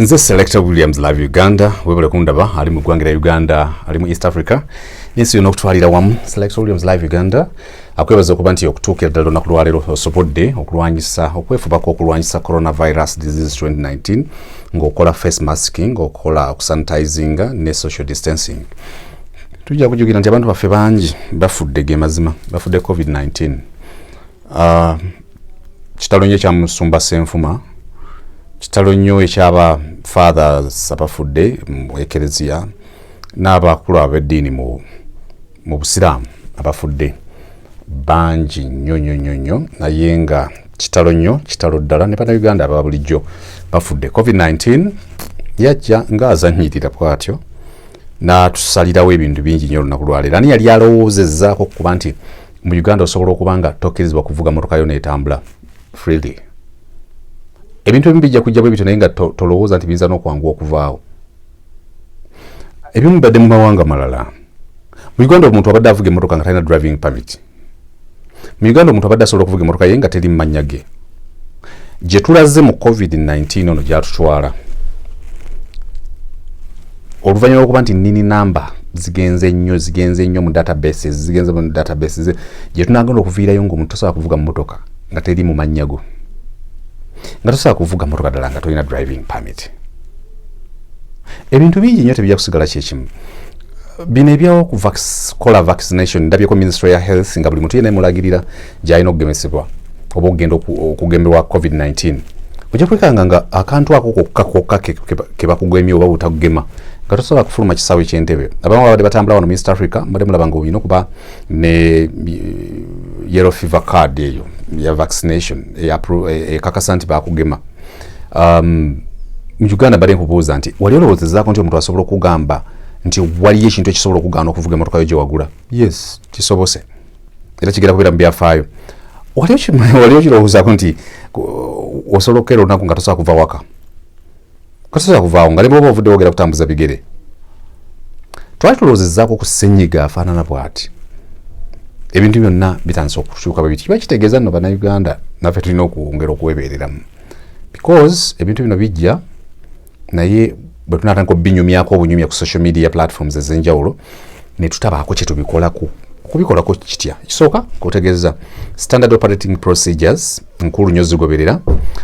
nze selecta williams love uganda webale kundaba ali mu ggwanga lya uganda ali mu east africa nensi yona okutwalira wamu selecta williams love uganda akwebaza okuba nti okutuukira ddala olunaku lwaleero osobodde okulwanyisa okwefubako okulwanyisa coronavirus disease 2019 ngaokola face masking okola okusanitizinga ne social distancing tujja kujukira nti abantu baffe bangi bafudde ge mazima bafudde covid-19 ah, kitalo nyo ekyamusumba senfuma kitalo nyo ekyaba fathers abafudde mu ekereziya n'abakulu ab'eddiini mu busiraamu abafudde bangi nnyo nnyo nnyo nnyo naye nga kitalo nnyo kitalo ddala ne bannayuganda aba bulijjo bafudde covid-19 yajja ng'azannyirira bw'atyo n'atusalirawo ebintu bingi nnyo olunaku lwaleero ani yali alowoozezaako okukuba nti mu uganda osobola okuba nga tokkirizibwa kuvuga motoka yo neetambula freely ebintu ebimu bijja kujja bwe bityo naye nga tolowooza nti biyinza n'okwanguwa okuvaawo ebimu bibadde mu mawanga malala mu uganda omuntu abadde avuga emmotoka nga talina driving permit mu uganda omuntu abadde asobola okuvuga emotoka ye nga teri mumanya ge gyetulaze mu covid-19 ono gyatutwala oluvanyuma lwokuba nti nini namba zigenze nnyo zigenze nnyo mu databases zigenze mu databases gyetunagenda okuviirayo nga omuntu tosobola kuvuga mumotoka nga teri mu mannya go nga tosobola kuvuga motoka ddala nga tolina driving permit ebintu bingi nnyo tebijja kusigala kyekimu bino ebyokukola vaccination ndabyeko ministry ya health nga buli muntu yena emulagirira gyalina okugemesebwa oba okugenda okugemberwa covid-19 ojja kwekanga nga akantu ako kokka kokka kebakugemye oba butakugema nga tosobola kufuluma kisaawe kyentebe abamu babadde batambula wano minst africa mbadde mulaba nga olina okuba ne eh, yellow fever card eyo ya vaccination ekakasa nti bakugema um, mu uganda bade nkubuuza nti wali olowoozezaako nti omuntu asobola okugamba nti waliyo ekintu ekisobola okugaana okuvuga emotoka yo gyewagula yes kisobose era kigera kubeera mu byafaayo wali okirowoozaako nti osobola okukeera olunaku nga tosobola kuva waka tosobola kuvaawo nga nebwoba ovudde wogera kutambuza bigere twali tulowoozezaako ku senyiga afaanana bwati ebintu byonna bitandise okukyuka bwebiti kiba kitegeeza nno bannayuganda naffe tulina okwongera okuwebeereramu because ebintu bino bijja naye bwe tunatandika obinyumyako obunyumya ku social media platforms ez'enjawulo ne tutabaako kye tubikolako okubikolako kitya kisooka kutegeeza standard operating procedures nkulu nyo zigoberera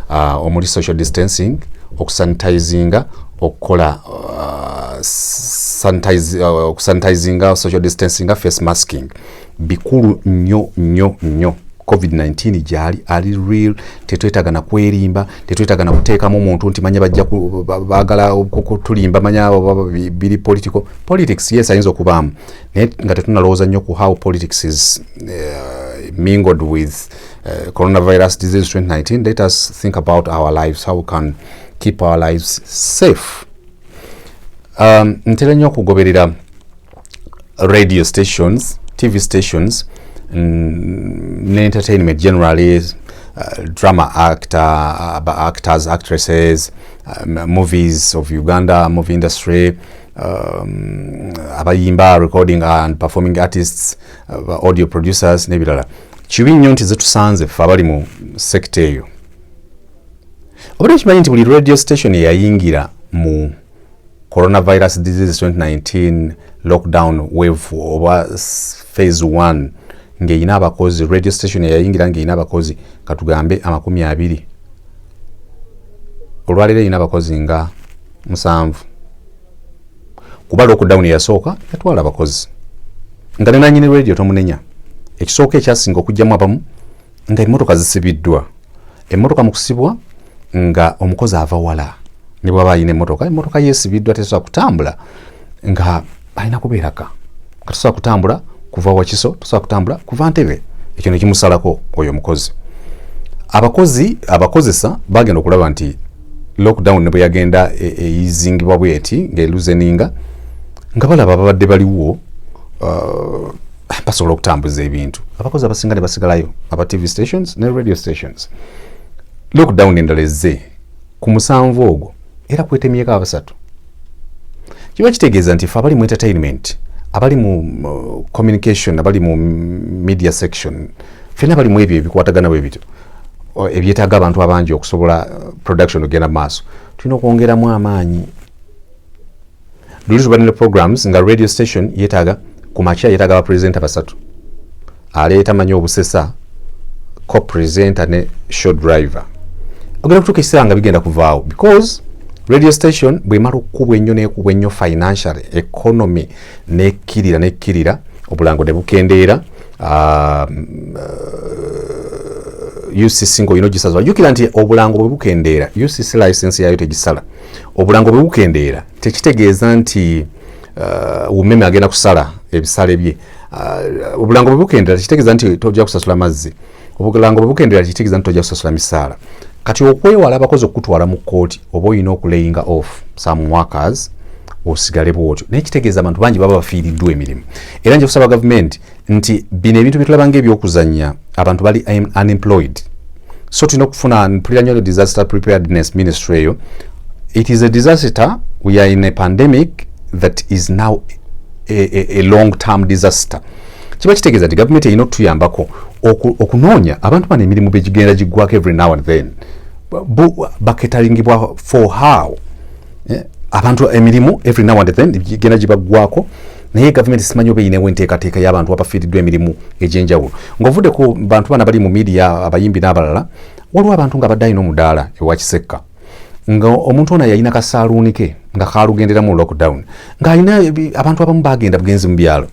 uh, omuli social distancing okusanitizinga okukola uh, uh, okusanitizinga social distancing face masking bikulu nnyo nnyo nnyo covid-19 gyali ali real tetwetaga na kwerimba tetwetaga na kuteekamu muntu nti manya bajja bagala kutulimba manya abo biri political politics yes ayinza okubaamu naye nga tetunalowooza nnyo ku how politics is uh, mingled with uh, coronavirus disease 2019 let us think about our lives how we can keep our lives safe um, ntera nnyo okugoberera radio stations tv stations mm, ne entertainment generally uh, drama actor uh, actors actresses uh, movies of uganda movie industry um, abayimba recording and performing artists uh, audio producers nebirala kibi nnyo nti zetusanze fe abali mu sekita eyo obadde okimanyi nti buli radio station eyayingira mu coronavirus disease 2019 lockdown wave oba phase 1 ng'erina abakozi radio station eyayingira ng'erina abakozi katugambe amakumi abiri olwaleero erina abakozi nga musanvu kuba lockdown eyasooka yatwala abakozi nga nenanyini radio tomunenya ekisooka ekyasinga okugyamu abamu nga emmotoka zisibiddwa emmotoka mu kusibwa nga omukozi ava wala ne bwaba alina emmotoka emmotoka yeesibiddwa tesobola kutambula nga alina kubeeraka nga tosobola kutambula kuva wakiso tosobola kutambula kuva ntebe ekyo ne kimusalako oyo omukozi abakozi abakozesa bagenda okulaba nti lockdown ne bwe yagenda e, eyizingibwa e, bweti ng'eluzeninga nga balaba babadde baliwo uh, basobola okutambuza ebintu abakozi abasinga ne basigalayo aba tv stations ne radio stations lockdown endala ezze ku musanvu ogwo era kwetemyeko abasatu kiba kitegeeza nti fe abali mu entertainment abali mu communication abali mu media section fena abali mu ebyo ebikwatagana bwe bityo ebyetaaga abantu abangi okusobola uh, production okugenda mu maaso tulina okwongeramu amaanyi luli tubadde ne programs nga radio station yetaaga ku makya yetaaga bapresenta basatu aleeta manyi obusesa co presenta ne show driver ogenda kutuuka ekiseera nga bigenda kuvaawo because radio station bwemala okukubwa ennyo nekubwa ennyo financial economy nekkirira nekkirira obulango ne bukendeera um, uh, ucc ngaolina ogisazwa jukira nti obulango bwe bukendeera ucc license yaayo tegisala obulango bwe bukendeera tekitegeeza nti uh, umeme agenda kusala ebisale bye uh, obulango bwe bukendeera tekitegeeza nti tojja kusasula mazzi obulango bwe bukendeera tekitegeeza nti tojja kusasula misaala kati okwewala abakozi okukutwala mu kkooti oba olina okulayinga off some workers osigale bwotyo naye kitegeeza abantu bangi baba bafiiriddwa emirimu era nja kusaba gavumenti nti bino ebintu byetulaba nga ebyokuzanya abantu bali unemployed so tulina okufuna mpulira nyo disaster preparedness ministry eyo it is a disaster we are in a pandemic that is now a, a, a long term disaster kiba kitegeeza nti gavumenti erina okutuyambako okunoonya abantu bano emirimu begigenda giggwako every now and then baketalingibwa for how eh, abantu emirimu every now and then gigenda gibaggwako naye gavumenti simanyi oba eyinewo enteekateeka y'abantu abafiiriddwa emirimu egy'enjawulo ng'ovudde ku bantu bana bali mu midiya abayimbi n'abalala waliwo abantu nga badde alina omudaala ewa kisekka nga omuntu ono yalina kasaaluuni ke nga kaalugendera mu lockdown ng'alina abantu abamu bagenda bugenzi mu byalo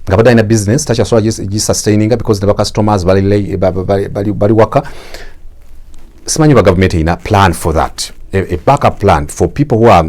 nga badde alina business takyasobola gisustaininga because ne bacustomers bali waka simanyi oba gavumenti erina plan for that a, a backup plan for people who are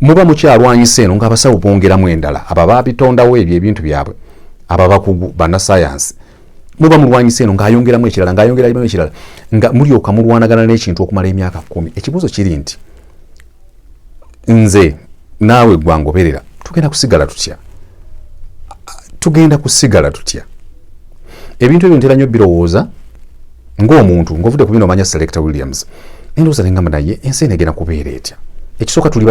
muba mukyalwanyisa eno ngaabasawo bongeramu endala abo ababitondawo ebyo ebintu byabwe ababakugu banasayansi muba mulwanyisa eno ngaayongeramu ekirala ngaayongeramu ekirala nga mulyoka mulwanagana n'ekintu okumala emyaka kumi ekibuuzo kiri nti nze naawe gwangoberera tugenda kusigala tutya tugenda kusigala tutya ebintu ebyo ntera nnyo birowooza ng'omuntu ng'ovudde ku bino omanya selector williams nendowooza nengamba naye ensi eno egenda kubeera etya ekisooka tuli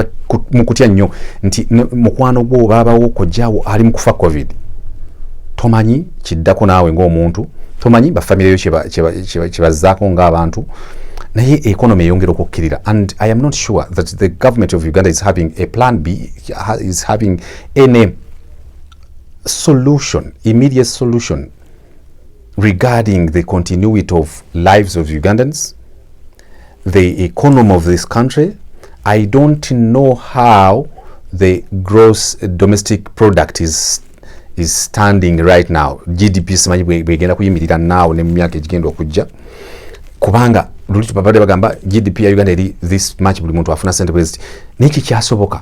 mu kutya nnyo nti mukwano gwo baabawo kojjaawo ali mu kufa covid tomanyi kiddako naawe ng'omuntu tomanyi bafamire yo kyebazzaako ng'abantu naye economy eyongera okukkirira and i am not sure that the government of uganda is having a plan b is having any solution immediate solution regarding the continuity of lives of Ugandans, the economy of this country, I don't know how the gross domestic product is is standing right now GDP simanyi bwegenda kuyimirira naawo ne mu myaka egigenda okujja kubanga luli tubabadde bagamba GDP ya Uganda eri this much buli muntu afuna sente bweziti naye kikyasoboka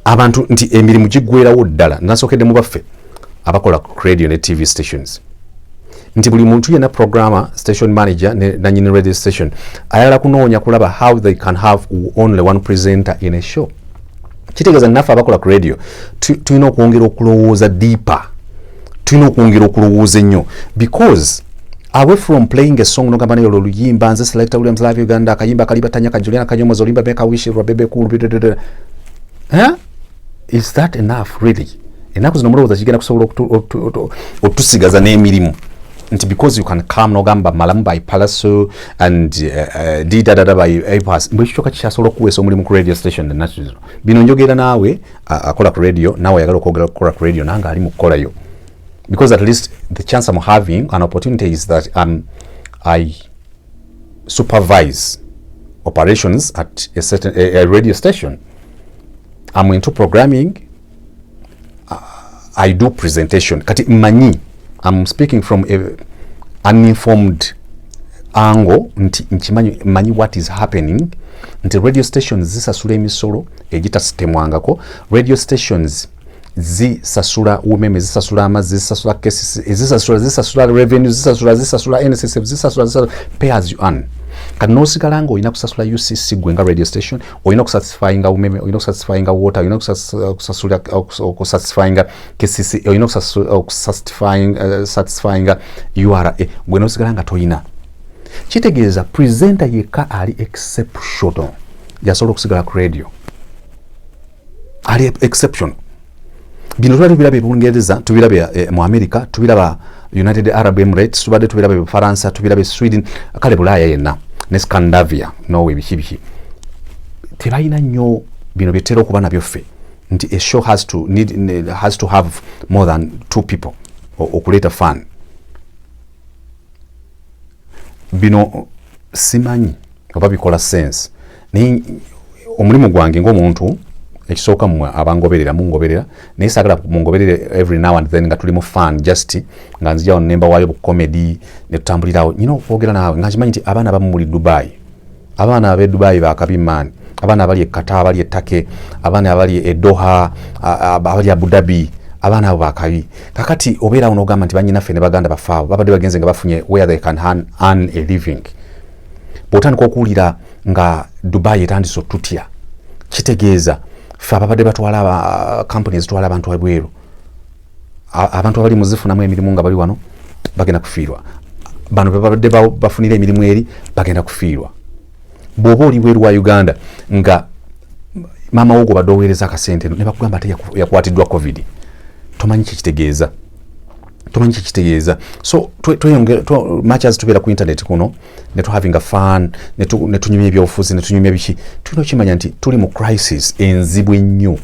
abantu nti emirimu giggwerawo ddala nasokedde mu baffe abakola ku radio ne tv stations nti buli muntu yena programmer station manager ne nanyini radio station ayala kunoonya kulaba how they can have only one presenter in a show kitegeeza naffe abakola ku radio tulina okwongera okulowooza deeper tulina okwongera okulowooza ennyo because away from playing a song nogamba naye olwo luyimba nze selecta williams live uganda akayimba kalibatanya kajuliana kanyomozi olimba beka wishi rwabebe kulu eh? is that enough really enaku zino mulowooza kigenda kusobola otusigaza n'emirimu nti because you can come nogamba malamu by palaso and uh, uh, didadada by apas mbwe kikyoka kikyasobola okuweesa omulimu ku radio station enaku zino bino njogera naawe akola ku radio naawe ayagala okwogera okukola ku radio nange ali mu kukolayo because at least the chance I'm having an opportunity is that um, I supervise operations at a certain a, a radio station. I'm into programming. I do presentation. Kati mani, I'm speaking from a uninformed angle nti nkimanyi manyi what is happening nti radio stations zisasula emisolo egitasitemwangako radio stations zisasula umeme zisasula amazzi zisasula cases zisasula zisasula revenue zisasula zisasula nssf zisasula zisasula pay as you earn kati nosigala nga olina kusasula ucc gwe nga radio station olina okusatisfyinga umeme olina okusatisfyinga water olina okusasula okusatisfyinga kcc olina okusatisfyinga uh, ura gwe nosigala nga tolina kitegeeza presenter yekka ali exceptional yasobola okusigala ku radio ali exception bino tubadde tubiraba ebungereza tubiraba e, eh, mu america tubiraba united arab emirates tubadde tubiraba ebufaransa tubiraba esweden kale bulaaya yenna ne scandavia nowe biki biki tebalina nnyo bino byetera okuba nabyo ffe nti a show has to, need, has to have more than two people okuleeta fan bino simanyi oba bikola sense naye omulimu gwange ngaomuntu ekisooka mwe abangoberera mungoberera naye sagala mungoberere every now and then nga tuli mu fan just nga nzijawo nemba wayo bucomedy netutambulirawo nyina okwogera naawe nga nkimanyi nti abaana bamu muli dubai abaana abe dubai bakabi man abaana abali ekata abali etake abaana abali edoha abali abudabi abaana abo bakabi kakati obeera wo nogamba nti banyinaffe ne baganda bafaawo babadde bagenze nga bafunye where they can earn a living bwotandika okuwulira nga dubai etandise otutya kitegeeza fe ababadde batwala kampuni ezitwala abantu ebweru abantu abali muzifunamu emirimu nga bali wano bagenda kufiirwa bano bebabadde bafunira emirimu eri bagenda kufiirwa bwoba oli bweru wa uganda nga maama wo gwobadde oweereza akasente eno nebakugamba ate yakwatiddwa covid tomanyi kyekitegeeza tomanyi kyekitegeeza so much as tubeera ku internet kuno twe, ne tu having a fun ne tu ne tunyumya ebyobufuzi ne tunyumya biki tulina okimanya nti tuli mu crisis enzibu ennyo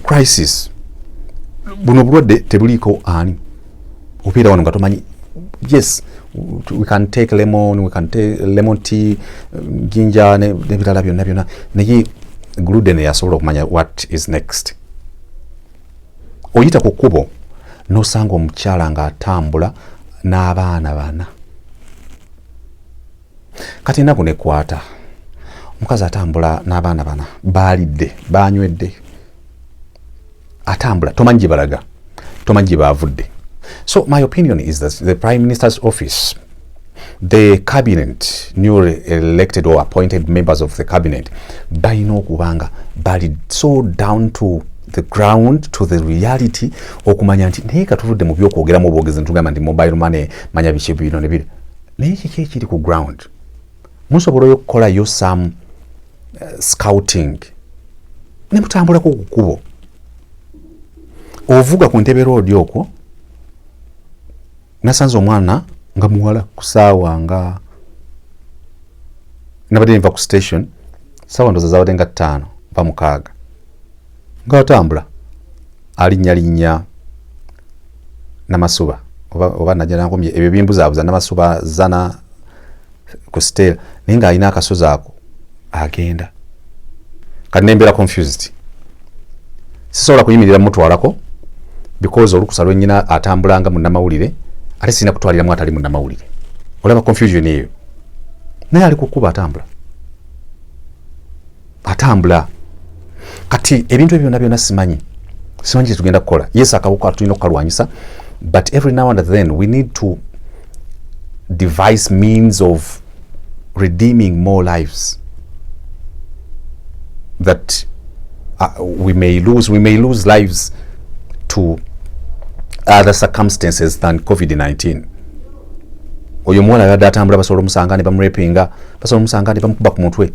crisis buno obulwadde tebuliiko ani obeera wano nga tomanyi yes we can take lemon we can take lemon tea ginja nebirala byonna byonna naye gluden yasobola okumanya what is next oyita ku kkubo n'osanga omukyala ng'atambula n'abaana bana kati enaku nekwata omukazi atambula n'abaana bana baalidde baanywedde atambula tomanyi gye balaga tomanyi gye baavudde so my opinion is that the prime minister's office the cabinet newly elected or appointed members of the cabinet balina okuba nga bali so down to the ground to the reality okumanya nti naye katuvudde mu byokwogeramu obwogezi ntugamba nti mobile money manya biki bino nebiri naye kiki ekiri ku ground musobola oyo okukolayo some uh, scouting ne mutambulako ku kkubo ovuga ku ntebe roodi okwo nasanze omwana nga muwala kusaawa nga nabadde nva ku station saawa ndoza zabadde nga ttaano va mukaaga nga atambula alinnyalinnya namasuba oba, oba najja nankomye ebyo bimbuzaabuza namasuba zana ku stel naye nga alina akasozi ako agenda kati nembeera confused sisobola kuyimirira mutwalako because olukusa lwenyina atambulanga munamawulire ate sirina kutwaliramu atali munamawulire olaba confusion eyo naye ali kukuba atambula atambula kati ebintu ebyo byona byona simanyi simanyi kyetugenda kukola yes akawuka tulina okukalwanyisa but every now and then we need to devise means of redeeming more lives that uh, we may lose we may lose lives to other circumstances than covid-19 oyo omuwala yadde atambula basobola omusanga ne bamurepinga basobola omusanga ne bamukuba ku mutwe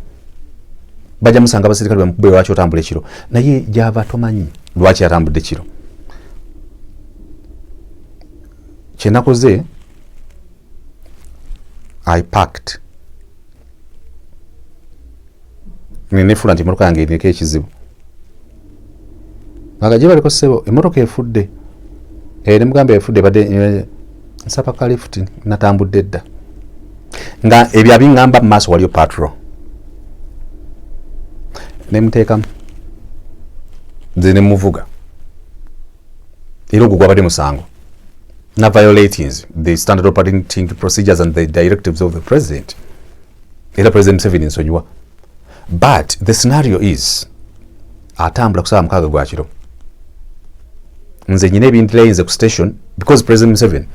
bajja musanga abaserikale bamukubbe lwaki otambula ekiro naye gyava tomanyi lwaki atambudde kiro kyenakoze i packed nenefula nti emotoka yange eriko ekizibu nga gye baliko ssebo emotoka efudde eri eh, mugamba efudde badde eh, nsaba ka lift natambudde dda nga ebyo abiŋŋamba mu maaso waliyo patro ne muteekamu nze ne muvuga era ogwo gwabadde musango na violatinz the standard operating procedures and the directives of the president era president museveni nsonyiwa but the scenario is atambula kusaba mukaaga gwa kiro nze nyina ebindilayinze ku station because president museven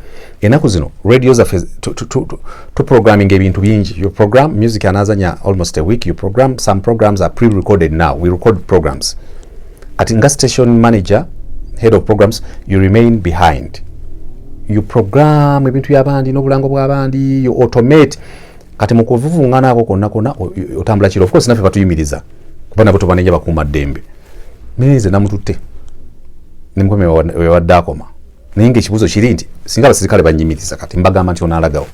enaku zino radio zaffe tuprogramming ebintu bingi your program music anazanya almost a week your program some programs are pre recorded now we record programs kati nga station manager head of programs you remain behind you program ebintu byabandi n'obulango bw'abandi you automate kati mukuvuvungana ako konna konna otambula kiro ofcourse naffe batuyimiriza kuba nabo tubanenya bakuuma ddembe naye nze namututte nemukomya wewadde akoma naye nga ekibuuzo kiri nti singa abasirikale banyimiriza kati mbagamba nti onalagawo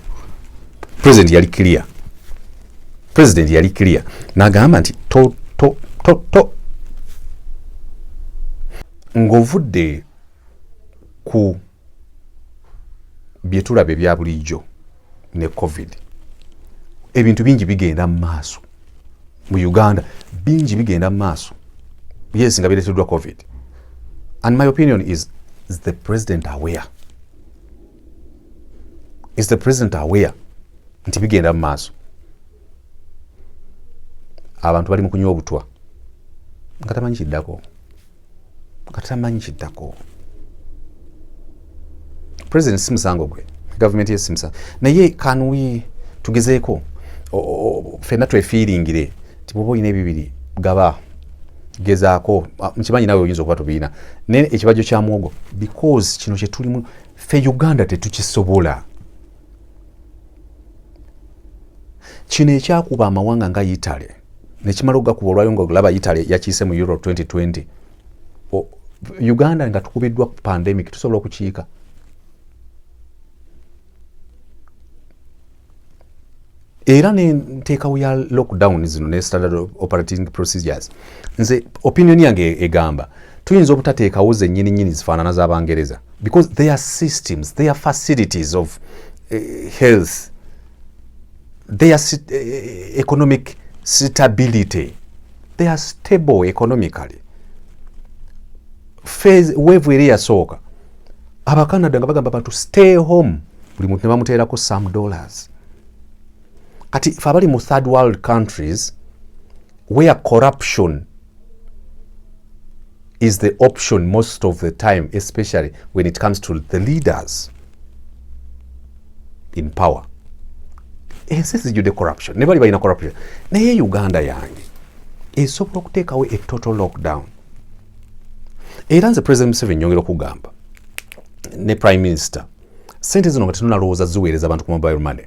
president yali clear president yali clear nagamba nti to to to to ng'ovudde ku bye tulaba ebya bulijjo ne covid ebintu bingi bigenda mu maaso mu uganda bingi bigenda mu maaso yes nga bireteddwa covid and my opinion is, is the president aware is the president aware nti bigenda mu maaso abantu bali mu kunywa obutwa nga tamanyi kiddako katamanyi kiddako president si musango gwe gavumenti yesi musango naye kanuyi tugezeeko fenna twefiiringire nti bwoba olina ebibiri gaba gezaako nkimanyi nawe oyinza okuba tobiina naye ekibajjo kya mwogo because kino kyetulimu fe uganda tetukisobola kino ekyakuba amawanga nga italy nekimala okugakuba olwayo nga olaba italy yakiise mu euro 2020 uganda nga tukubiddwa ku pandemic tusobola okukiika era nenteekawo ya lockdown zino ne standard operating procedures nze opinion yange egamba tuyinza obutateekawo zenyini nyini zifaanana z'abangereza because their systems their facilities of uh, health their eh, eh, economic stability they are stable economically phase wave eri yasooka abacanada nga bagamba abantu stay home buli muntu nebamuteerako some dollars kati fe abali mu third world countries where corruption is the option most of the time especially when it comes to the leaders in power ensi eh, zijjudde corruption ne bali balina corruption naye uganda yange esobola okuteekawo a total lockdown era nze president museveni nyongera okugamba ne prime minister sente zino nga tenunalowooza ziweereza abantu ku mobile money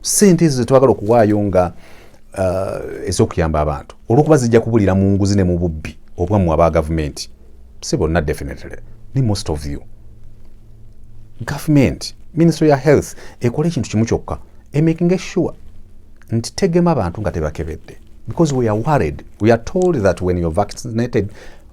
sente ezo zetwagala okuwaayo nga uh, ezokuyamba abantu olwokuba zijja kubulira mu nguzi ne mu bubbi obwamu aba gavumenti si bonna definitely ni most of you gavumenti ministry ya health ekola ekintu kimu kyokka emakinga sure nti tegema bantu nga tebakebedde because we are worried we are told that when you're vaccinated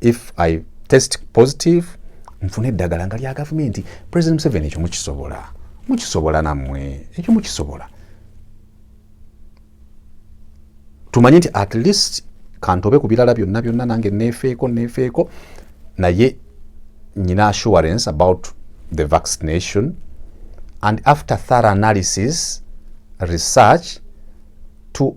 if i test positive nfuna eddagala nga lya gavumenti president museveni ekyo mukisobola mukisobola nammwe ekyo mukisobola tumanye nti at least kantobe ku birala byonna byonna nange neefeeko neefeeko naye nyina assurance about the vaccination and after thorough analysis research to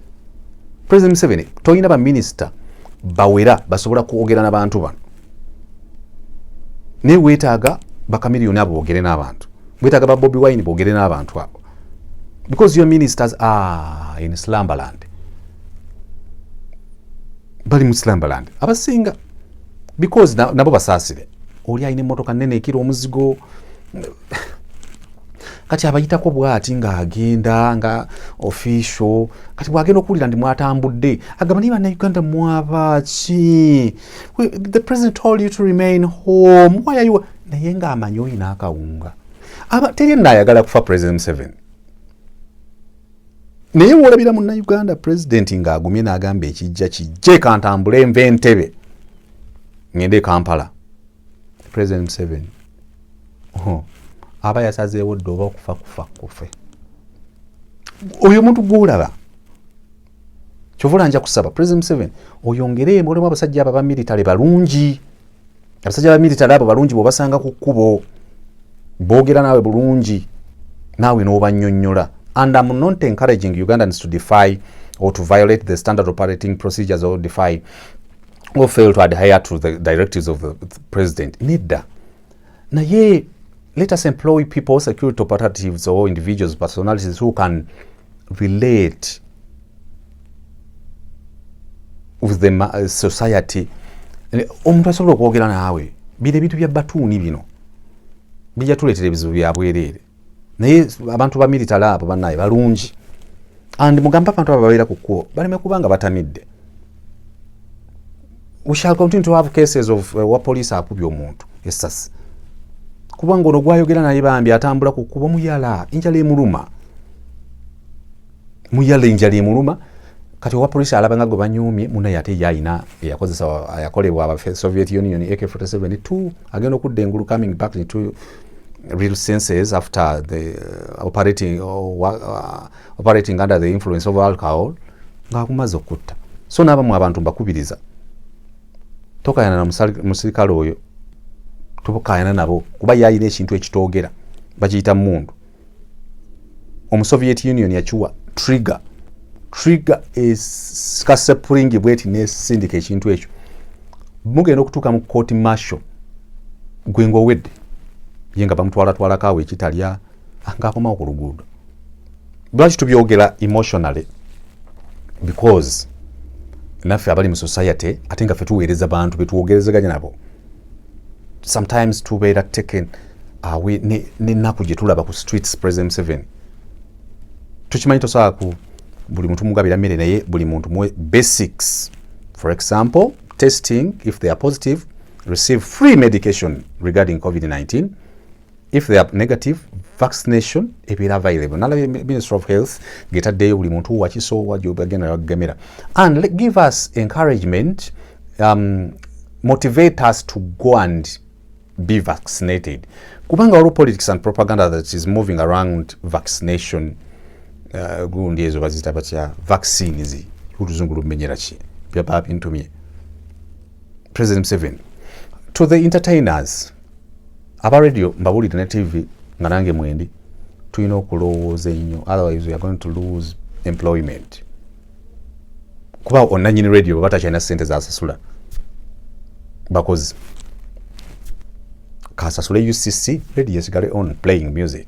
president museveni tolina baminisita bawera basobola kwogera nabantu bano naye wetaaga bakamiliyoni abo bogere n'abantu wetaaga ba bobi wine bogere n'abantu abo because your ministers are in slumberland bali mu slumberland abasinga because nabo na basaasire oli alina emotoka nene ekira omuzigo kati abayitako bwati ng'agenda nga official kati bwagenda okuwulira ndi mwatambudde agamba naye banauganda mwabaaki the president told you to remain home why are you naye ng'amanyi olina akawunga aba teri naayagala kufa president museveni naye wolabira munauganda pulezidenti ng'agumye n'agamba ekijja kijje kantambule nva entebe ngende e kampala president museven aba yasazeewo dde oba okufa kufa kufe oyo omuntu gwolaba kyovula nja kusaba president museven oyongere mulimu abasajja abo abamiritale balungi abasajja abamiritale abo balungi bwobasanga ku kkubo boogera naawe bulungi naawe n'obanyonyola and am not encouraging ugandans to defy or to violate the standard operating procedures or defy or fail to adhere to the directives of the president nedda naye let us employ people security operatives or individuals personalities who can relate with the uh, society omuntu asobola okwogera naawe bino ebintu bya batuuni bino bijja tuleetera ebizibu byabwereere naye abantu ba military abo banaye balungi and mugambe abantu abo babeera ku kkubo baleme kuba nga batamidde we shall continue to have cases of uh, wa police akubye omuntu esasi kubanga ono gwayogera naye bambi atambula ku kkubo muyala enjala emuluma muyalinja lyemuluma kati owa polisi alaba nga gwe banyumye munaye ate yalina eyakozesa yakolebwa aba soviet union ak 47 t agenda okudda engulu coming back into real senses after the uh, operating, uh, uh, operating under the influence of alcohol ng'akumaze okutta so n'abamu abantu mbakubiriza tokayana na musirikale oyo tokayana nabo kuba yalina ekintu ekitoogera bakiyita mundu omusoviet union yakiwa trigger trigger kasepringi bweti nesindika ekintu ekyo mugenda okutuuka mu court marshal gwe ngaowedde ye nga bamutwalatwalako awo ekitalya ah, ngaakomawo ku luguudo lwaki tubyogera emotionally because naffe abali mu society ate nga fe tuweereza bantu betwogerezeganya nabo sometimes tubeera taken awe nenaku gyetulaba ku streets president seven tukimanyi tosobola ku buli muntu mugabira mmere naye buli muntu muwe basics for example testing if they are positive receive free medication regarding covid-19 if they are negative vaccination ebeera available nalabye minister of health ngetaddeyo buli muntu wakisoowa gyobagenda bakugemera and let, give us encouragement um, motivate us to go and be vaccinated kubanga waliwo politics and propaganda that is moving around vaccination uh, gundi ezo bazita batya vaccines oluzungu lumenyera ki byaba bintumye president museveni to the entertainers aba radio mbabulire ne tv nga nange mwendi tulina okulowooza ennyo otherwise weare going to lose employment kuba onanyini radio baba takyalina sente zasasula bakozi kasasule ucc radio esigale on playing music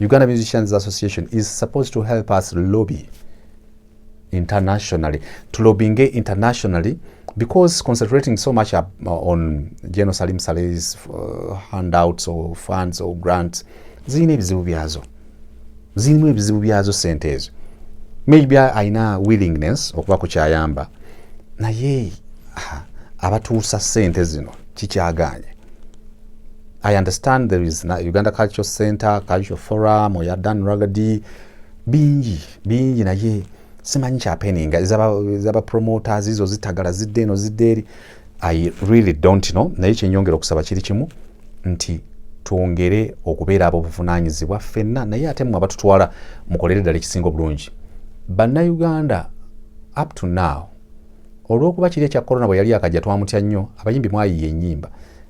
Uganda Musicians Association is supposed to help us lobby internationally to lobbying internationally because concentrating so much up, uh, on General Salim Saleh's uh, handouts or funds or grants zirina ebizibu byazo zirimu ebizibu byazo sente ezo maybe alina willingness okuba ku kyayamba naye abatuusa sente zino kikyaganye I understand there is na Uganda Cultural Center, Cultural Forum, oya Dan Ragadi, bingi, bingi naye simanyi kyapeninga ezaba promoters izo zitagala zidde eno zidde eri i really don't know naye kyenyongera okusaba kiri kimu nti twongere okubeera abobuvunanyizibwa ffenna naye ate mwe abatutwala mukolere ddala ekisinga obulungi bannayuganda up to now olwokuba kiri ekya corona bwe yali akajja twamutya nnyo abayimbi mwayiiya ennyimba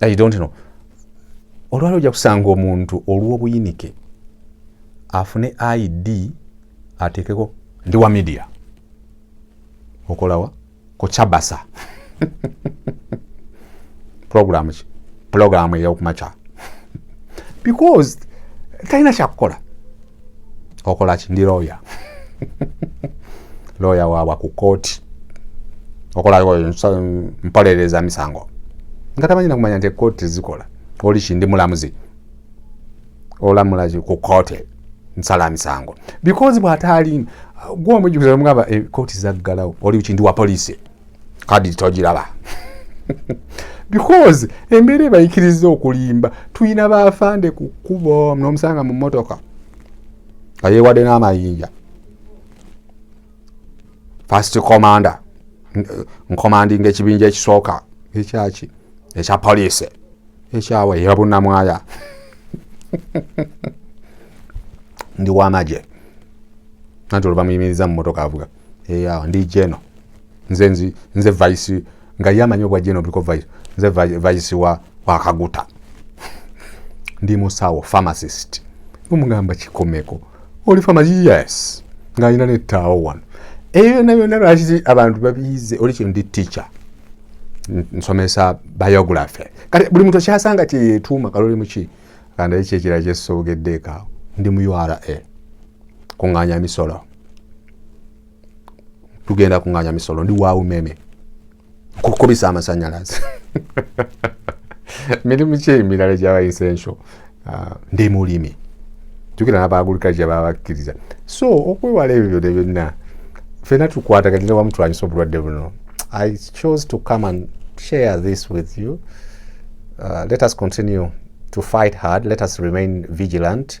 i don't know olwali ojja kusanga omuntu olw'obuyinike afune id atekeko ndi wa media okolawa ku kyabasa pulogulaamu ki pulogulaamu eyokumakya because talina kyakukola okolaki ndi looya looya waabwa ku kooti okolampoleleza misango nga tamanyi nakumanya nti ekooti tezikola oli kindi mulamuzi olamulaki ku kooti nsala misango because bwataali gwomujukizamugamba ekooti eh, zaggalawo oli kindi wa poliisi kadi togiraba because embeera ebayikiriza okulimba tulina baafande ku kkubo nomusanga mu motoka nga yewadde n'amayinja first commander nkomandinga ekibinja ekisooka ekyaki ekya poliisi ekyawa eyabunamwaya ndi wamagye nanti oluvamuyimiriza mu motoka avuga eyawo ndi jeno nze nzi nze vice nga yamanyi obwa jeno biko vice nze vice wa wakaguta ndi musawo pharmacist omugamba kikomeko oli pharmacist yes nga alina nettaawo wano eyo yona yona lwaki abantu babiyize oli kino ndi teacher nsomesa biography kati buli muntu akyasanga kyeyetuuma kalolimuki kandaye kyekira kyesogeddeekaawo ndi mu ura kuŋŋaanya misolo tugenda kuŋŋaanya misolo ndi wa umeme kukubisa amasannyalaze mirimu ki emirala gyaba essential ah, ndi mulimi jukira n'abaagulikazi gye baba bakkiriza so okwewala ebyo byona byonna fena tukwataganira wamu tulwanyisa obulwadde buno i chose to come and share this with you uh, let us continue to fight hard let us remain vigilant